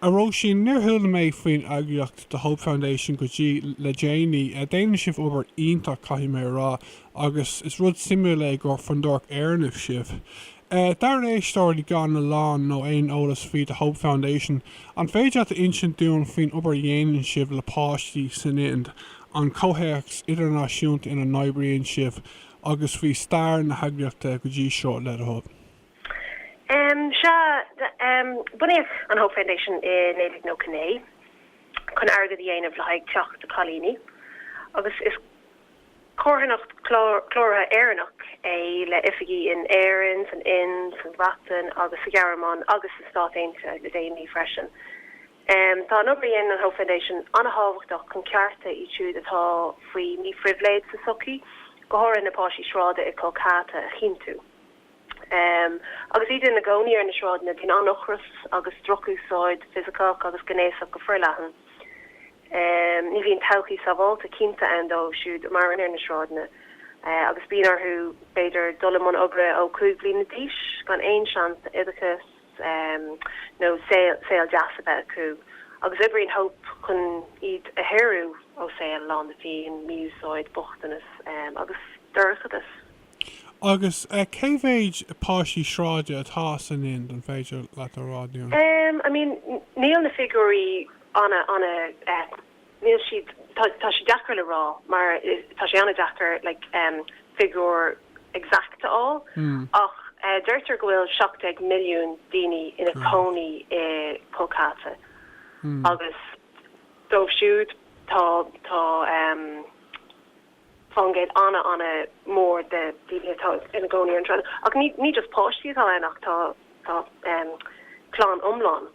A Róisín, níor chuala mé faoin eagraíocht The Hope Foundation go dtí le déanaí. Déanann sibh obair iontach, caithfidh mé a rá, agus is rud suimiúil é gur Fondúireacht Éireannach sibh. Dár n-éisteoirí gan a lán nó aon eolas faoi The Hope Foundation, an féidir leat a insint dúinn faoin obair a dhéanann sibh le páistí san Ind, an comhthéacs idirnáisiúnta ina n-oibríonn sibh, agus faoi stair na heagraíochta go dtí seo, le do thoil? Sea, bunaíodh an Hope Foundation i 1999 chun airgead a dhéanamh le haghaidh teach de chailíní, agus is carthanacht chláraithe Éireannach é le oifigí in Éirinn, san Ind, sa Bhreatain agus sa Ghearmáin agus sna Stáit Aontaithe le déanaí freisin. Tá an obair a dhéanann an Hope Foundation an-thábhachtach chun cearta iad siúd atá faoi mí-phribhléid sa tsochaí, go háirithe na páistí sráide i Kolkata, a chinntiú. Agus iad ina gcónaí ar na sráideanna, bíonn an-ocras agus drochúsáid fisiceach agus gnéasach go forleathan. Ní bhíonn todhchaí sábháilte cinnte ann dóibh siúd a mhaireann ar na sráideanna, agus bíonn orthu, b'fhéidir, dul i mbun oibre ó 5 bliana d'aois, gan aon seans oideachas nó saol deas a bheith acu, agus oibríonn Hope chun iad a shaoradh ó saol lán de phian, mí-úsáid, bochtanas agus dorchadas. Agus cé mhéid páistí sráide atá san Ind, an féidir leat a rá dúinn? I mean, níl na figiúirí an, an, níl siad, tá, tá sé deacair le rá mar tá sé an-deacair like figiúr exact a fháil ach deirtear go bhfuil 17 milliún duine ina gcónaí i Kolkata agus díobh siúd tá, tá. faoin gcéad ana ana mhór de dhaoine atá ina gcónaí ar na sráideanna, ach ní ní just páistí atá ann ach tá tá em clann iomlán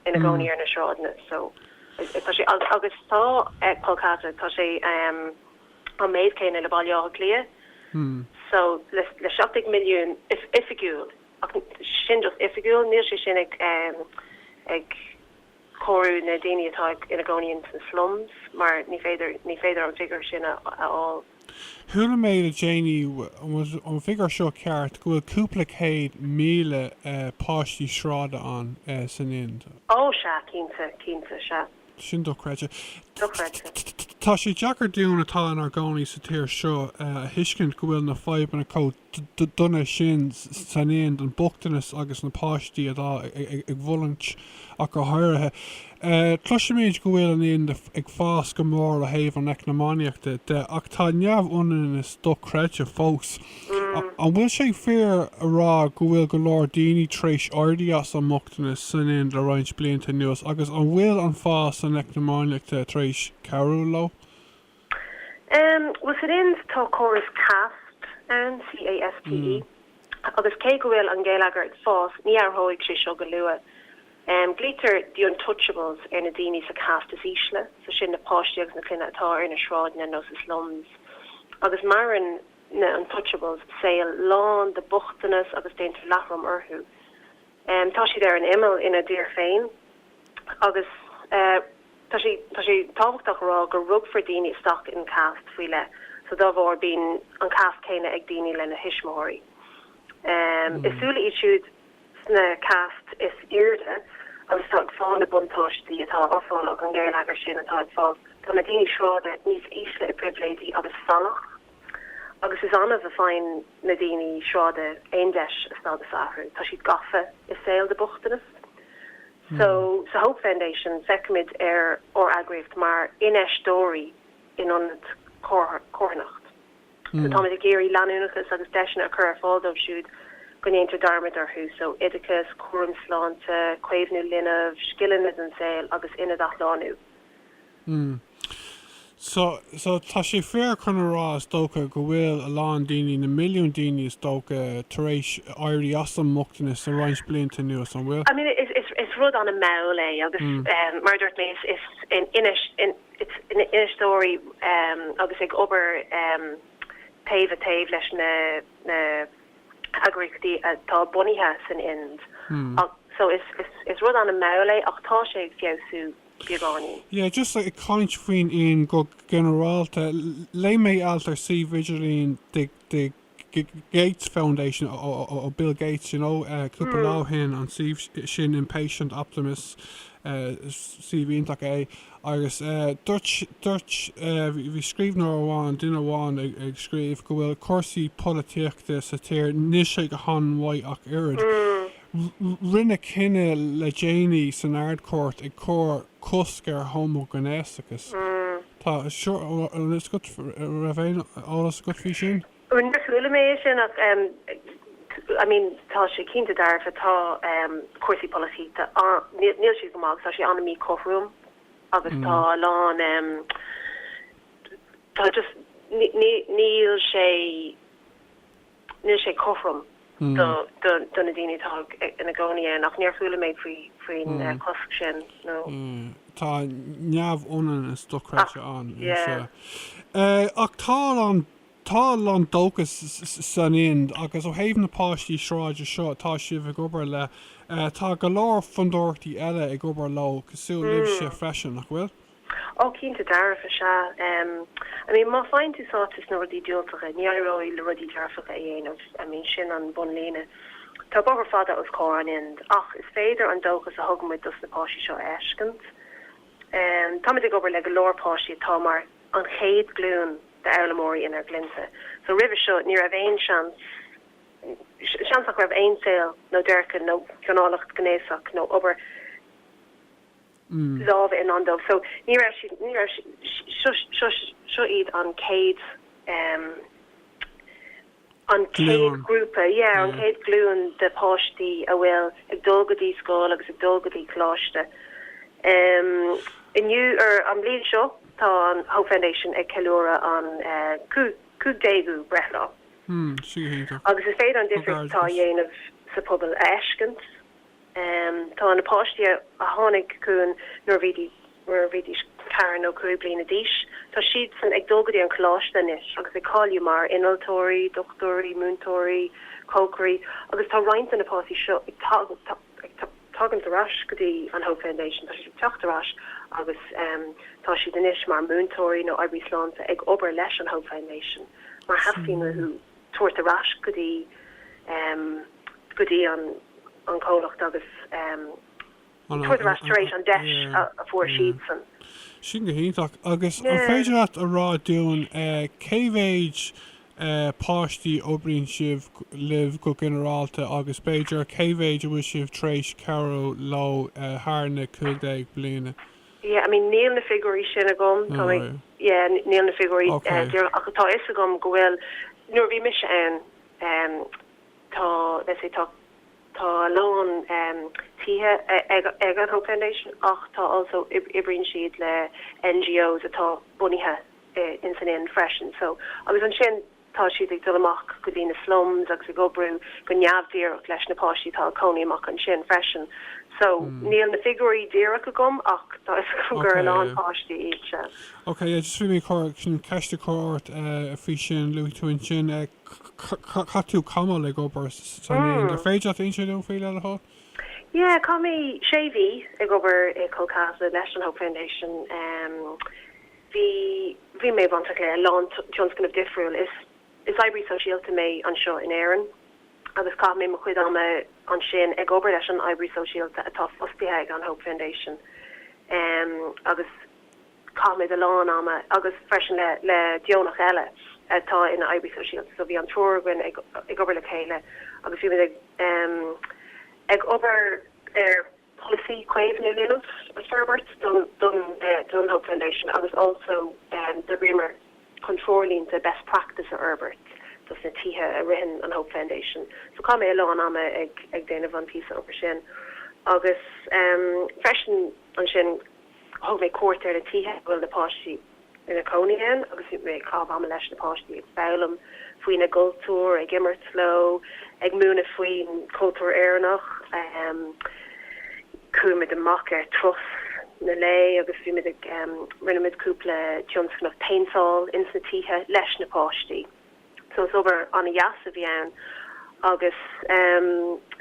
ina gcónaí ar na sráideanna so tá sé agus agus tá eh Kolkata tá sé em an méid céanna le Baile Átha Cliath so le le seacht déag milliún oifigiúil ach sin just oifigiúil níl sé sin ag em ag comhaireamh na daoine atá ina gcónaí insna slums mar ní féidir ní féidir an figiúr sin a fháil. Chuala mé le déanaí, an bhfuil an figiúr seo ceart, go bhfuil cúpla céad míle páistí sráide ann san Ind. Ó, sea, cinnte, cinnte, sea. Sin dochreidte. Dochreidte. Tá sé deacair dúinn atá inár gcónaí sa tír seo a thuiscint go bhfuil na fadhbanna chomh. duine sin san Ind, an bochtanas agus na páistí atá ag fulaingt ach go háirithe. Cloisimid go bhfuil an Ind ag fás go mór ó thaobh an eacnamaíochta de ach tá neamhionannas dochreidte fós. An bhfuil sé fíor a rá go bhfuil go leor daoine tar éis éirí as an mbochtanas san Ind le roinnt blianta anuas agus an bhfuil an fás san eacnamaíochta tar éis cabhrú leo? Bhuel, san Ind, tá córas caste ann, C-A-S-T-E, agus cé go bhfuil an géilleagar ag fás, ní athróidh sé seo go luath. Glaoitear The Untouchables ar na daoine sa caste is ísle, so sin na páistí agus na clainne atá ar na sráideanna nó sna slums. Agus maireann na Untouchables saol lán de bhochtanas agus déantar leathrom orthu. Tá siad ar an imeall ina dtír féin agus tá sé tá sé tábhachtach a rá go rugtar daoine isteach in caste faoi leith so dá bharr bíonn an caste céanna ag duine lena thuismitheoirí. So is iad siúd sna caste is airde atá ag fáil na buntáistí atá á fáil ag an ngeilleagar sin atá ag fáil tá na daoine sráide níos ísle i bpribhléidí agus salach. Agus is annamh a fhaigheann na daoine sráide aon deis a stádas a athrú, tá siad gafa i saol de bhochtanas. So, sa Hope Foundation, feicimid ar ár eagraíocht mar infheisteoirí in ionad carthanacht. So, táimid ag iarraidh leanúnachas agus deiseanna a chur ar fáil dóibh siúd go ndéantar dearmad orthu, so, oideachas, cúram sláinte, caomhnú linbh, scileanna don saol agus ionad athshlánú. Mm. So, so, tá sé fíor chun a rá, is dócha, go bhfuil a lán daoine, na milliúin daoine, is dócha, tar éis éirí as an mbochtanas le roinnt blianta anuas, an bhfuil? I mean, is, is, is rud an-mall é, agus, Mm. ehm, mar a dúirt mé, is, is in Inis, in, it's in infheisteoirí, ehm, agus ag obair, ehm, taobh i taobh leis na, na heagraíochtaí atá bunaithe san Ind. Mm. Ach, so, is, is, is rud an-mall é, ach tá sé ag feabhsú beagáinín. Yeah, just ag caint faoin Ind go ginearálta, léigh mé alt ar suíomh idirlín the Gates Foundation ó Bill Gates, you know, cúpla lá ó shin, an suíomh sin Impatient Optimists, suíomh iontach é, agus dúirt, dúirt, bhí scríbhneoir amháin, duine amháin ag scríobh go bhfuil cúrsaí polaitíochta sa tír, níl sé go han-mhaith ach oiread. Rinneadh cinneadh le déanaí san Ard-Chúirt ag cur cosc ar homaighnéasachas. Tá eolas agat faoi, raibh aon eolas agat faoi sin? Níor chuala mé é sin ach I mean tá sé cinnte dearfa, tá cúrsaí polaitíochta an-, níl siad go maith agus tá sé an-míchothrom agus tá a lán tá just níl sé, níl sé cothrom do na daoine atá ina gcónaí ann ach níor chuala mé faoin gcosc sin nó. tá neamhionannas dochreidte ann ach tá a lán tá a lán dóchas san Ind agus ó thaobh na páistí sráide seo atá sibh ag obair le tá go leor fondúireachtaí eile ag obair leo cosúil libhse freisin nach bhfuil? Oh cinnte dearfa sea. I mean má faigheann tú sáite sna rudaí diúltacha ní éireoidh leat rudaí dearfacha a dhéanamh. I mean sin an bunlíne. Tá bóthar fada os comhair an Ind ach is féidir an dóchas a thugaimid dos na páistí seo a fheiscint. Táimid ag obair le go leor páistí atá mar an chéad glúin d'fhoghlaimeoirí ina gclainnse so roimhe seo ní raibh aon seans seans ach raibh aon saol nó déirce nó gáinneáil ghnéasach nó obair lámha i ndán dóibh. So ní raibh siad, ní raibh siad, seo iad an chéad, an chéad grúpa, yeah, an chéad glúin de páistí a bhfuil ag dul go dtí scoil agus ag dul go dtí coláiste. Inniu, an bhliain seo, tá an Hope Foundation ag ceiliúradh an 15ú breithlá. Agus is féidir an difríocht atá á dhéanamh sa phobal a fheiscint. Tá na páistí a tháinig chugainn nuair a bhídís ceithre nó cúig bliana d'aois, tá siadsan ag dul go dtí an coláiste anois agus ag cáiliú mar innealtóirí, dochtúirí, múinteoirí, cócairí agus tá roinnt de na páistí seo ag tagaint ar ais go dtí an Hope Foundation, tá siad ag teacht ar ais agus tá siad anois mar mhúinteoirí nó oibrí sláinte ag obair leis an Hope Foundation mar theastaíonn uathu. tabhairt ar ais go dtí go dtí an an comhlacht agus tabhairt ar ais tar éis an deis a fuair siadsan. Sin go hiontach. Agus an féidir leat a rá dúinn cé mhéid páistí oibríonn sibh libh go ginearálta agus b'fhéidir cé mhéid a bhfuil sibh tar éis cabhrú leo thar na cúig déag bliana? yeah I mean níl na figiúirí sin agam tá mé yeah níl na figiúirí díreach ach tá fhios agam go bhfuil nuair a bhí mise ann em tá let's say tá tá a lán em tithe ag ag an Hope Foundation ach tá also oibríonn siad le NGOs atá bunaithe in san Ind freisin so agus ansin Tá siad ag dul amach go dtí na slums agus ag oibriú go neamhdhíreach leis na páistí atá ag cónaí amach ansin freisin. So, níl na figiúirí díreach agam ach tá 'fhios agam gur a lán páistí iad sin. Ok, yeah, just bhí mé chun ceist a chur ort faoi sin, luaigh tú ansin, chaith tú tamall ag obair san Ind, an féidir leat insint dom faoi le do thoil? Yeah, chaith mé sé mhí ag obair i Kolkata leis an Hope Foundation. Bhí bhí mé bainteach le a lán tionscnamh difriúil. Is is oibrí sóisialta mé anseo in Éirinn agus chaith mé mo chuid ama ansin ag obair leis an oibrí sóisialta atá fostaithe ag an Hope Foundation em agus chaith mé a lán ama freisin agus freisin le le deonach eile atá ina oibrí sóisialta so bhí an triúr againn ag ag obair le chéile agus bhí muid ag em ag obair ar polasaí caomhnú leanbh a fhorbairt don don Hope Foundation agus also d'oibríomar chun treoirlínte best practice a fhorbairt dos na tithe a ritheann an Hope Foundation so chaith mé a lán ama ag ag déanamh an píosa obair sin agus freisin ansin Thug mé cuairt ar na tithe a bhfuil na páistí ina gcónaí ann agus chaith mé am leis na páistí ag foghlaim faoina gcultúr, ag imirt leo, ag múineadh faoin chultúr Éireannach. Chuaigh muid amach ar thurais lae agus bhí muid ag, rinne muid cúpla tionscnamh péinteáil ins na tithe leis na páistí. So is obair an-deas a bhí ann agus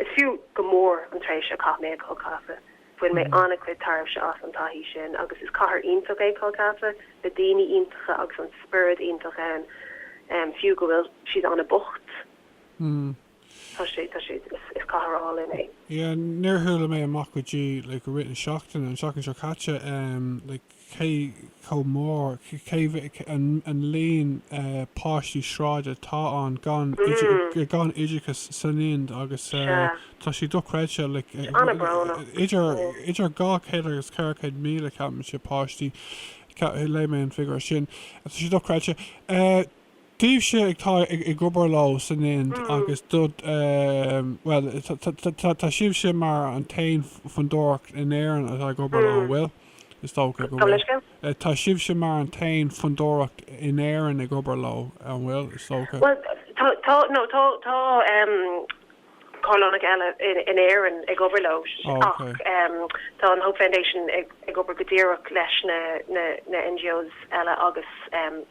is fiú go mór an tréimhse a chaith mé i gKolkata. Bhain mé an-chuid tairbhse as an taithí sin agus is cathair iontach é Kolkata, le daoine iontacha agus an spiorad iontach ann, fiú go bhfuil siad an-bocht, tá sé, tá sé, is cathair álainn é. Yeah, ní bhfuair mé amach go dtí like i rith na seachtaine, an tseachtain seo caite, like, cé chomh mór, cé an líon páistí sráide atá ann gan gan oideachas san Ind agus tá sé dochreidte, like idir idir 200 agus 400 míle ceapaimse páistí, léigh mé an figure sin, tá sé dochreidte. Daoibhse atá ag obair leo san Ind agus do, bhuel, tá sibhse mar an t-aon fondúireacht in Éirinn atá ag obair leo, an bhfuil? Is dócha go bhfuil. Tá sibhse mar an t-aon fondúireacht in Éirinn ag obair leo, an bhfuil? Is dócha. Bhuel, tá, tá, no, tá, tá. Comhlámh eile in Éirinn ag obair leo ach tá an Hope Foundation ag obair go díreach leis na NGOs eile agus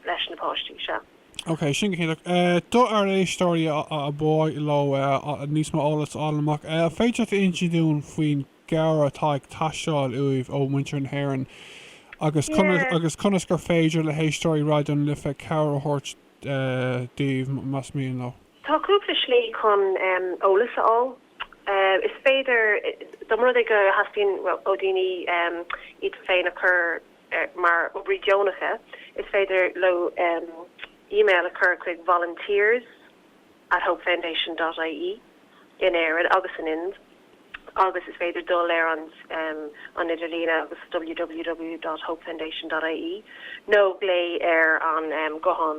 leis na páistí seo. Ok, sin go hiontach. Do ár éisteoirí ar mhaith leo níos mó eolas a fháil amach, an féidir leat a insint dúinn faoin gcabhair atá ag teastáil uaibh ó mhuintir na hÉireann agus conas agus conas gur féidir le héisteoirí Raidió na Life cabhair a thabhairt daoibh más mian leo? Tá cúpla slí chun eolas a fháil. Is féidir, dá mba rud é go dtastaíonn ó dhaoine iad féin a chur mar oibrí deonacha, is féidir leo email a chur chuig volunteers at hopefoundation.ie in Éirinn agus an Ind agus is féidir dul ar an an idirlíon agus www.hopefoundation.ie nó glao ar an ghuthán.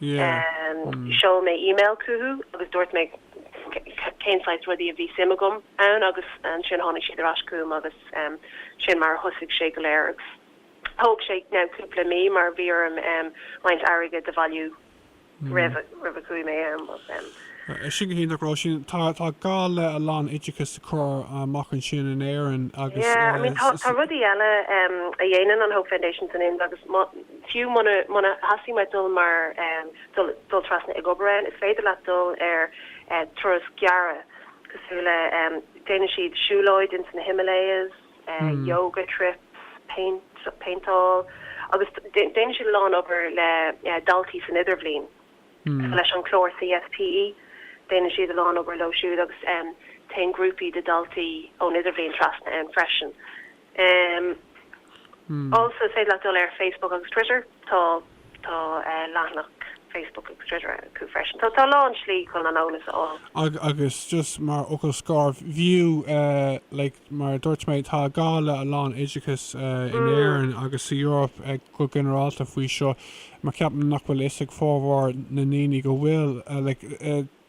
Seol mé email chucu agus dúirt mé cén saghas rudaí a bhí suim agam ann agus ansin tháinig siad ar ais chugam agus sin mar a thosaigh sé go léir agus thóg sé cúpla mí mar bhí orm roinnt airgid a bhailiú roimh a chuaigh mé ann. Sin go hiontach, Róisín. Tá gá le a lán oideachais a chur amach ansin in Éirinn agus. Yeah, I mean tá rudaí eile a dhéanann an Hope Foundation san Ind agus má. Fiú muna dteastaíonn uait dul mar dul trasna ag obair ann, is féidir leat dul ar turas gearra cosúil le déanann siad siúlóid ins na Himalayas, yoga trips, paintball agus déanann siad a lán obair le daltaí san idirbhliain leis an gclár CSPE, déanann siad a lán obair leo siúd agus téann grúpaí de daltaí ón idirbhliain trasna ann freisin. Also is féidir leat dul ar Facebook agus Twitter, tá tá leathanach Facebook agus Twitter acu freisin. Tá tá a lán slí chun an eolas a fháil. Agus just mar fhocal scoir, an bhfuil like mar a dúirt mé, tá gá le a lán oideachais in Éirinn agus sa Eoraip go ginearálta faoi seo, mar ceapaim nach bhfuil fhios ag formhór na ndaoine go bhfuil like,